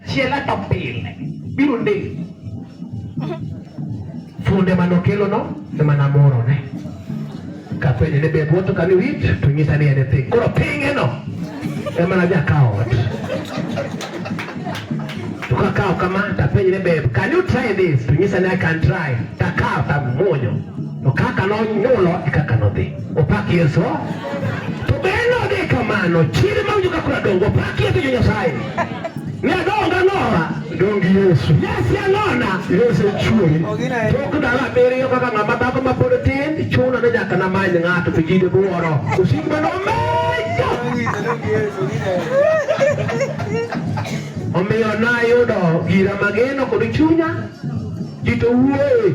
Chiela to pile biro ndee funde mane okelono ema namorone kapenje ni be bwoto kani wit to nyisa ni en e piny koro pingeno ema najakawo ot to kakawo kama tapenje ni be can you try this to nyisa ni I can try takawo tamuonyo to kaka nonyulo e kaka nodhi Opak Yesu. To be node kamano, chiri ma ujuka kura dongo, opak Yesu jo Nyasaye. Ne adonga ng'owa. Dongi Yesu. Yesu ang'ona. Yesu echuori. Tok ndalo abiriyo kaka ng'ama dhako ma pod tin, chuno ni nyaka namany ng'ato to ji dibworo. Osik ma nomejo. Omiyo nayudo gira mageno kod chunya, ji to wuoye.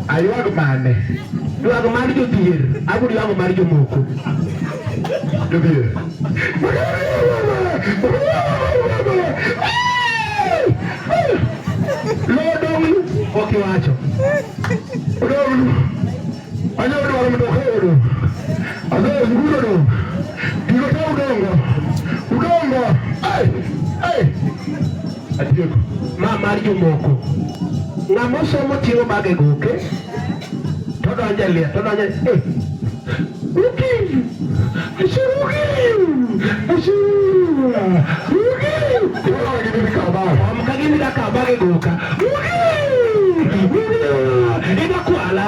Aywag mane? Ywag mar jodhier, abiro ywag mar jomoko. Jodhier. Lodong'u ok iwacho. Odong'u. Anyalo dwaro mondo okaw odong'. Azael nguro odong'. Gigo te udongo. Udongo. Ai! Ai! Adier. Ma mar jomoko. Ng'ama osomo ting'o bage goke to donjo e liel to donjo e Ukiv! Ashe ukiv! Ashe ukiv! Kama gini kabage. Kama gini kabage goka. Ukiv! Ukiv! Ina kuala.